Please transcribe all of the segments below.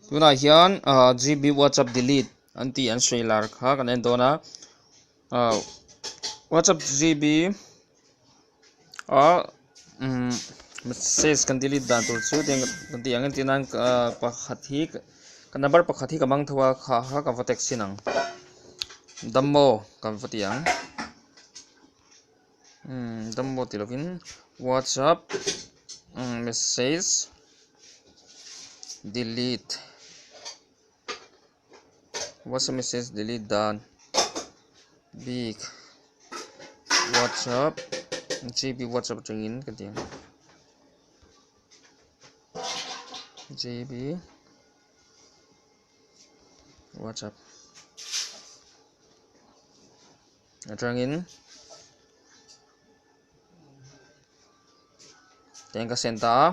tunah hian ah GB WhatsApp delete an tih an sawi lar kha kan en dawn a ah WhatsApp GB ah um message kan delete dan tur chu tiang kan tih ang en tinan ah pakhat hi ka number pakhat hi ka mang tho a kha kha ka va text in ang dammaw kan va ti ang. Download tih lovin WhatsApp message delete WhatsApp message delete dan big WhatsApp GB WhatsApp chungin ka ding GB WhatsApp Atangin keng ka send ta a,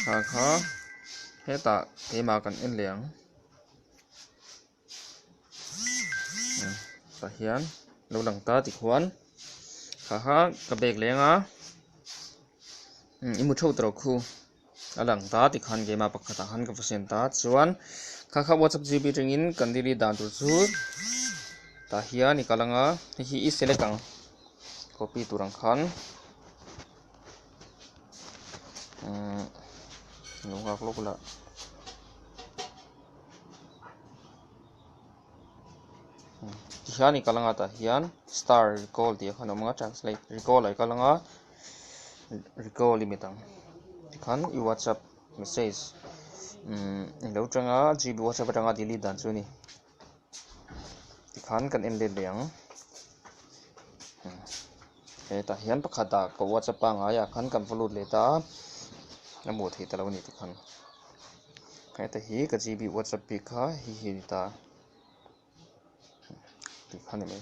thla kha hetah keimah kan en leh ang, tah hian lo lang ta tichuan thla kha ka bag leng a, i mu theuh tawh khu. a lang ta ti khan game a pakhatah khan ka va siam ta chuan kha kha whatsapp gb ringin kan delete dan tur chu tah hian i kal ang a hei hi i select ang copy tur ang khan umm lo nghak lawk la. Tihian i kal anga tah hian star recall tih a khan awm anga translate recall a i kal anga recall limit ang tikhan i whatsapp message i lo tang a gb whatsapp atanga delete dan chu a ni tikhan kan en let leh ang. Hetah hian pakhat a ka whatsapp a ngai ah khan kan va lut leh ta a, a hmuh theih ta lo ni tikhan. Heta hi ka GB whatsapp bik kha hi hi a ni ta, tih kha a ni mai.